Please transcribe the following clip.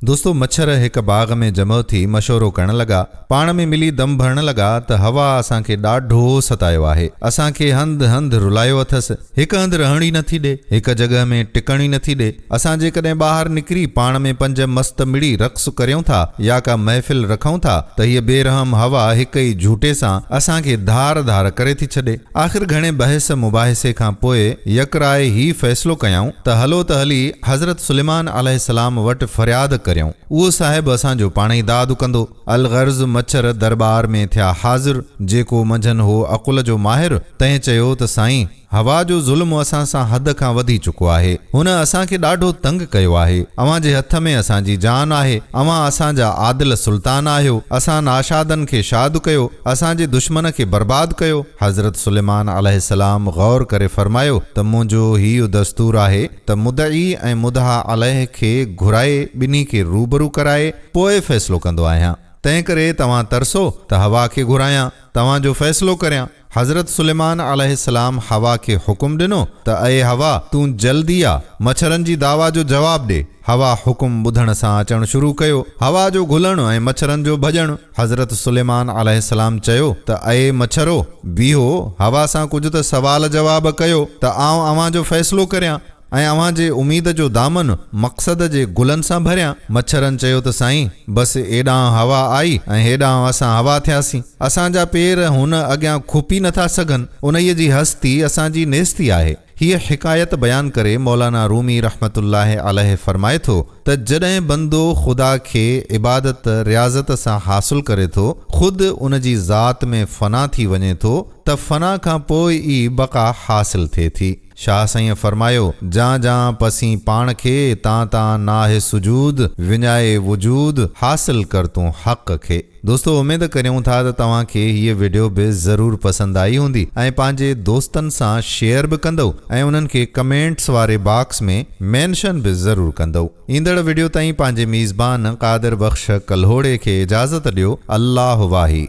دوستو مڇر هڪ باغ ۾ جمع ٿي مشورو ڪرڻ لڳا. پاڻ ۾ ملي دم ڀرڻ لڳا ته هوا اسان کي ڏاڍو ستايو آهي. اسان کي هنڌ هنڌ رلايو اٿس. هڪ هنڌ رهڻ ئي نٿي ڏي. هڪ جڳهه ۾ ٽڪڻ ئي نٿي ڏي. اسان جيڪڏهن ٻاهر نڪري پاڻ ۾ پنج مست مڙي رقص ڪريون ٿا يا ڪا محفل رکون ٿا ته هيء بي رحم هوا هڪ ئي جهوٽي سان اسان کي ڌار ڌار ڪري ٿي ڇڏي. آخر گهڻي بحث مباحثي کان پوء يڪراء هي فيصلو ڪيائون ته هلو ته هلي حضرت سليمان عليه السلام وٽ فرياد ڪريون، اهو صاحب اسان جو پاڻ ئي داد ڪندو. الغرض مڇر درٻار ۾ ٿيا حاضر، جيڪو منجهن هو عقل جو ماهر، تنهن چيو ته سائين! هوا جو ظلم اسان سان حد کان وڌي چڪو آهي، هن اسان کي ڏاڍو تنگ ڪيو آهي، اوهان جي هٿ ۾ اسان جي جان آهي، اوهان اسان جا عادل سلطان آهيو، اسان ناشادن کي شاد ڪيو، اسان جي دشمن کي برباد ڪيو. حضرت سليمان عليه السلام غور ڪري فرمايو ته منهنجو هيء دستور آهي ته مدعي ۽ مدعا عليه کي گهرائي ٻنهي کي روبرو ڪرائي پوء فيصلو ڪندو آهيان. تنهنڪري توهان ترسو ته حوا کي گهرايان توهان جو فيصلو ڪريان. حضرت سليمان عليه السلام حوا کي حڪم ڏنو ته اي حوا! تون جلدي آ مڇرن جي دعويٰ جو جواب ڏي. حوا حڪم ٻڌڻ سان اچڻ شروع ڪيو. حوا جو گهلڻ ۽ مڇرن جو ڀڄڻ. حضرت سليمان عليه السلام چيو ته اي مڇرو! بيهو هوا سان ڪجهه ته سوال جواب ڪيو ته آئون اوهان جو فيصلو ڪريان ۽ اوهان جي اميد جو دامن مقصد جي گلن سان ڀريان. مڇرن چيو ته سائين! بس ايڏانهن هوا آئي ۽ هيڏانهن اسان هوا ٿياسين. اسان جا پير هن اڳيان کپي نٿا سگهن. انهيء جي هستي اسان جي نيستي آهي. هيء حڪايت بيان ڪري مولانا رومي رحمة الله عليه فرمائي ٿو ته جڏهن بندو خدا کي عبادت رياضت سان حاصل ڪري ٿو، خود ان جي ذات ۾ فنا ٿي وڃي ٿو ته فنا کان پوء ئي بقا حاصل ٿئي ٿي. شاهه سائينء فرمايو، جان جان پسين پاڻ کي، تان تان ناهه سجود، وڃائي وجود، حاصل ڪر تون حق کي. دوستو اميد ڪريون ٿا ته توهان کي هيء وڊيو به ضرور پسند آئي هوندي ۽ پنهنجي دوستن سان شيئر به ڪندؤ ۽ انهن کي ڪمينٽس واري باڪس ۾ مينشن به ضرور ڪندؤ ايندڙ وڊيو تائين پنهنجي ميزبان قادر بخش ڪلهوڙي کي اجازت ڏيو الله واهي.